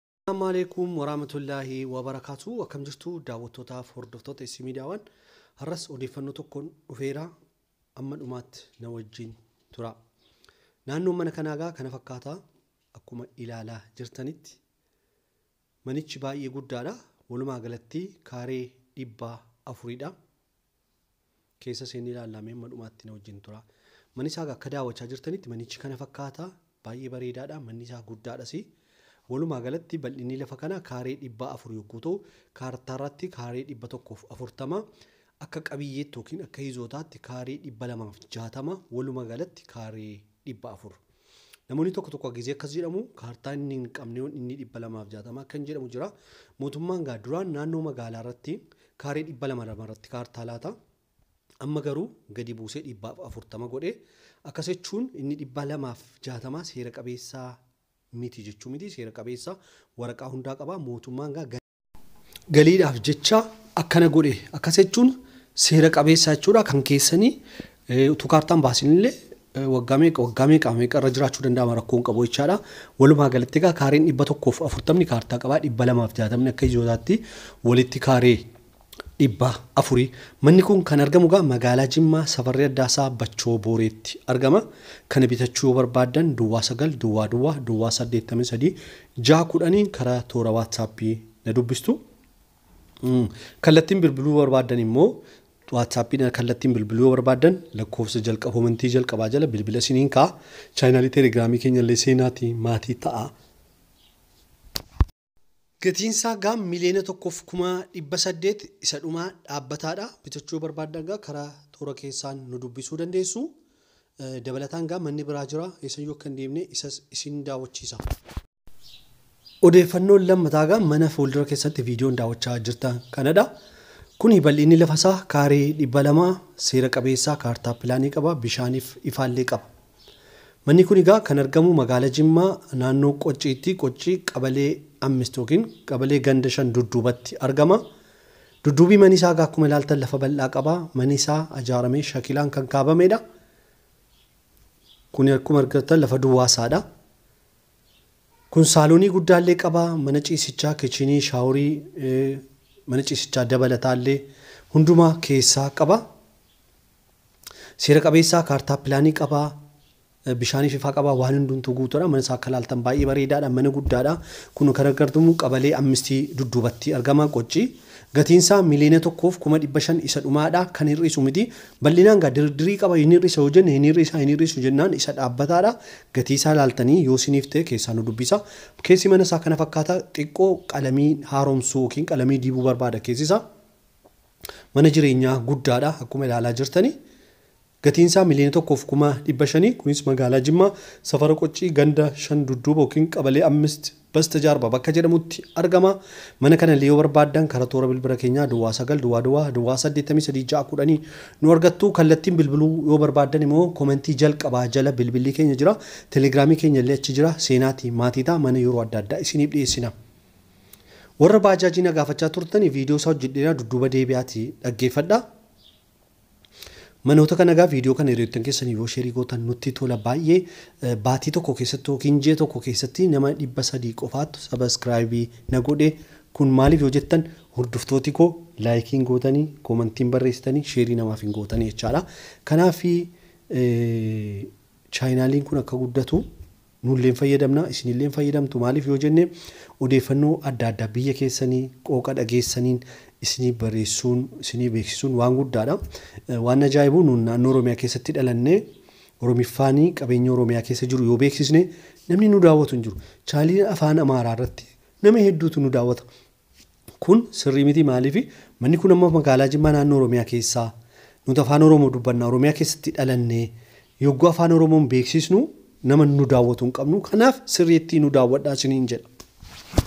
Assalaamu'aleeykum waraamatullaahi wabarakaatuh akkam jirtu daawwattootaaf hordoftoota Issii Miidiyaawaan har'as odeeffannoo tokkoon dhufeera amma dhumaatti na wajjin tura naannoon mana kanaagaa kana fakkaata akkuma ilaalaa jirtanitti manichi baay'ee guddaadha walumaa galatti kaaree dhibbaa afuridha keessa seennee ilaallaa mee amma dhumaatti na wajjin tura. Manni isaa akka daawwachaa jirtanitti manichi kana fakkaata baay'ee bareedaadha manni isaa guddaadhas. Walumaa galatti bal'inni lafa kanaa kaaree dhibbaa afur yogguu ta'u kaartaarratti kaaree dhibba tokkoof afurtama akka qabiyyeetti yookiin akka hizootaatti kaaree dhibba lamaaf jaatama walumaa galatti kaaree dhibba afur. Namoonni tokko tokko gizee akkas jedhamu kaartaa inni hin qabneeyoon inni dhibba lamaaf jaatama akkan jedhamu jira. Mootummaan gaa duraan naannoo magaalaa irratti kaaree dhibba lama lama irratti kaartaa laata. Amma garuu gadi buusee dhibbaaf afurtama godhe. Akkas jechuun inni dhibba lamaaf jaatama seera qabeessaa miti jechuu miti seera qabeessa waraqaa hundaa qaba mootummaan gaa galiidhaaf jecha akkana godhe akkas jechuun seera qabeessa jechuudha kan keessanii utuu kaartaan baasinillee waggaa meeqa waggaa meeqa meeqa irra jiraachuu danda'ama rakkoon qabu jechaadha. Walumaa galatti egaa kaareen dhibba tokkoof afurtamni kaartaa qabaa dhibba lamaaf jaatamni akka ijootaatti walitti kaaree 400. Manni kun kan argamu egaa magaalaa Jimmaa Safarri Addaa isaa Bachoo Booreetti argama. Kana bitachuu yoo barbaaddan duwwaa 9 duwwaa duwwaa duwwaa 83 6 10n karaa toora WhatsApp na dubbistu. Kallattiin bilbiluu barbaaddan immoo WhatsApp na kallattiin bilbiluu yoo barbaaddan lakkoofsa jalqaba komentii jalqabaa jala bilbila isiniin ka'a. Chaayinaalii Telegiraamii keenya illee seenaati maatii ta'a. Gatiinsaa gaa miliyoona tokkoof kuma dhibba saddeet isa dhumaa dhaabbataadha. Bitachuu barbaaddan gaa karaa toora keessaan nu dubbisuu dandeessu. Dabalataan gaa manni biraa jira eessayyuu akka hin deemne isas isin daawwachiisa. Odeeffannoon lammataa gaa mana fuuldura keessatti viidiyoon daawwachaa jirtan kanadha. Kuni bal'inni lafasaa kaarii dhibba lama seera qabeessa kaartaa pilaanii qaba bishaaniif ifaallee qaba. Manni kun egaa kan argamu magaala Jimmaa naannoo Qocciitti, Qoccii qabalee Ammist ykn qabalee ganda shan Dudduubatti argama. Dudduubii mani isaa egaa akkuma ilaaltan lafa bal'aa qaba. Mani isaa ajaaramee shakilaan kan kaabameedha. Kuni akkuma argattan lafa duwwaa isaadha. Kun saaloonii guddaallee qaba, mana ciisichaa, kichinii, shaaworii, mana ciisichaa dabalataallee hundumaa keessaa qaba. Seera qabeessaa, kaartaa pilaanii qaba, bishaanii fifaa qaba, waan hundumtuu guutuudha. Mana isaa akka ilaaltan baay'ee bareedaadha, mana guddaadha. Kun kan argartumu qabalee ammistii dudduubatti argama, qocci. Gatiin isaa miliyoona tokkoof kuma dhibba shan isa dhumaadha, kan hir'isu miti. Bal'inaan gaa dirii qaba, hin hir'isa yoo jenne hin hir'isa, hin hir'isu jennaan isa dhaabbataadha. Gatii isaa ilaaltanii yoo isiniif ta'e keessaa nu dubbisa. Keessi mana isaa kana fakkaata, xiqqoo qalamii haaromsuu yookiin qalamii dibuu barbaada keessi isaa. Mana jireenyaa guddaadha akkuma ilaalaa jirtani. Gatiin isaa miliyoona tokkoo fi kuma dhibba shanii kunis magaalaa Jimmaa safara Qoccii ganda shan dudduuba yookiin qabalee ammist basta jaarba bakka jedhamutti argama. Mana kana illee yoo barbaaddan kara toora bilbira keenyaa duwwaa sagal duwwaa duwwaa duwwaa saddeettamii sadii ja'a kudhanii nu argattu. Kallattiin bilbiluu yoo barbaaddan immoo komentii jalqabaa jala bilbillii keenya jira. Telegiraamii keenya illee achi jira. Seenaati maatii ta'a mana yeroo adda addaa isiniif dhiyeessina. Warra baajaajii na gaafachaa turtani viidiyoo isaa hojjedheera dudduuba deebi'aati dhaggeeffadha. Manoota kana egaa viidiyoo kana hiriyoottan keessaniif yoo sheerii gootan nutti tola baay'ee eh, baatii tokko keessatti yookiin ji'a tokko keessatti nama dhibba sadii qofaattu sabaskiraayibii na godhe kun maaliif yoo jettan hordoftooti koo laayikiin gootanii koomantiin barreessitanii sheerii namaaf hin gootanii jechaadha. Kanaaf eh, chaayinaaliin kun akka guddatu Nullee hin fayyadamna, isinillee hin fayyadamtu. Maaliif yoo jenne odeeffannoo adda addaa biyya keessanii qooqa dhageessaniin isinii bareessuun, isinii beeksisuun waan guddaadha. Waan ajaa'ibu nuun naannoo Oromiyaa keessatti dhalannee Oromiffaanii qabeenya Oromiyaa keessa jiru yoo beeksisne namni nu daawwatu hin jiru. Chaaliin afaan Amaaraa irratti nama hedduutu nu daawwata. Kun sirrii miti maaliif manni kun amma magaalaa Jimmaa naannoo Oromiyaa keessaa nuti afaan Oromoo dubbanna Oromiyaa keessatti dhalanne yogguu afaan Oromoon beeksiisnu nama nu daawwatu hin qabnu kanaaf sirriittii nu daawwadhaa isiniin jedha.